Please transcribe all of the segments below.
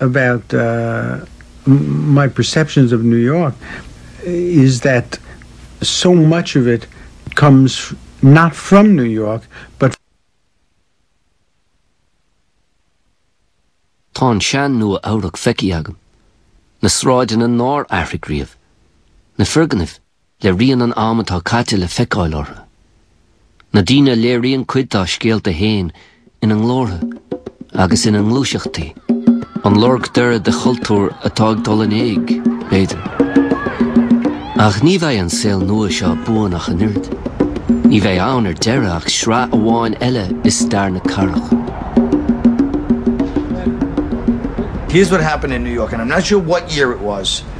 about my perceptions of New York is that so much of it comes not from New York but Tá an sean Nua Eabhrac feicthe agam. Na sráideanna nár athraigh riamh. Na foirgnimh le rian an am atá caite le feiceáil orthu. Na daoine a léiríonn cuid dá scéalta fhéin ina nglórtha agus ina ngluaiseachtaí, an lorg deiridh de chultúr atá ag dul in éag, b'fhéidir. Ach ní bheidh an saol nua seo buan ach an oiread. Ní bheidh ann ar deireadh ach sraith amháin eile i stair na cathrach. Here's what happened in New York, and I'm not sure what year it was.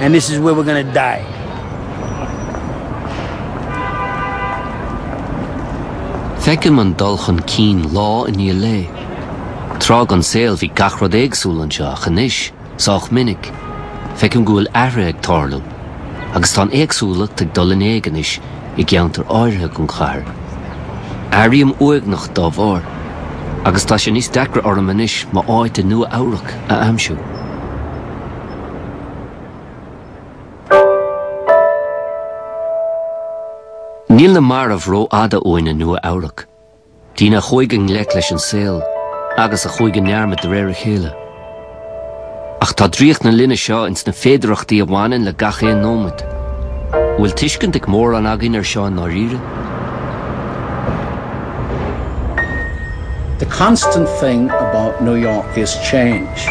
and this is where we're gonna die. Feicim an dul chun cinn lá i ndiaidh lae. Tráth den saol bhí gach rud éagsúil anseo ach anois, sách minic, feicim go bhfuil athrú ag tarlú agus tá an éagsúlacht ag dul in éag anois i gceantair áirithe den chathair. Airím uaigneach dá bharr agus tá sé níos deacra orm anois m'áit i Nua-Eabhrac a aimsiú. Níl na mairbh ró-fhada uainn i Nua Eabhrac. Daoine a chuaigh i ngleic leis an saol agus a chuaigh i ndearmad de réir a chéile. Ach tá draíocht na linne seo ins na féidearthachtaí a bhaineann le gach aon nóimead. An bhfuil tuiscint ag mórán againn ar seo i ndáiríre? The constant thing about New York is change.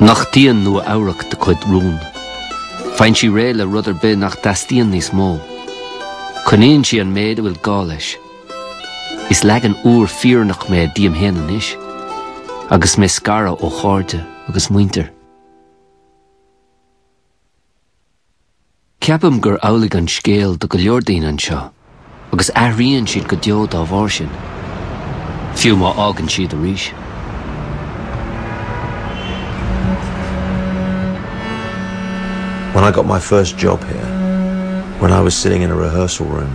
Nochtaíonn Nua Eabhrac do chuid rún? Faigheann sí réidh le rud ar bith nach dteastaíonn níos mó. Coinníonn sí an méid a bhfuil gá leis. Is leagan úr fírinneach mé díom fhéin anois, agus mé scartha ó chairde agus muintir. Ceapaim gur amhlaidh an scéal do go leor daoine anseo agus athríonn siad go deo dá bharr sin, fiú má fhágann siad arís. When I got my first job here, when I was sitting in a rehearsal room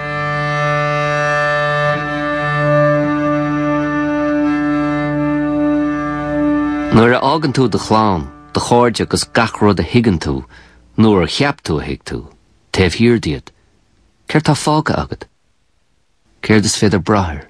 Nuair a fhágann tú do chlann, do chairde agus gach rud a thuigeann tú, nó a cheap tú a thuig tú, taobh thiar díot, céard tá fágtha agat? Céard is féidir brath air?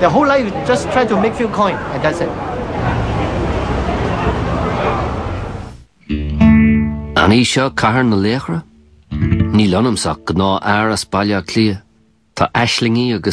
Their whole lives is just try to make few coin and that's it. An í seo Cathair na Laochra? Níl ionamsa ach gnáth-fhear as Baile Átha Cliath. Tá aislingí agam.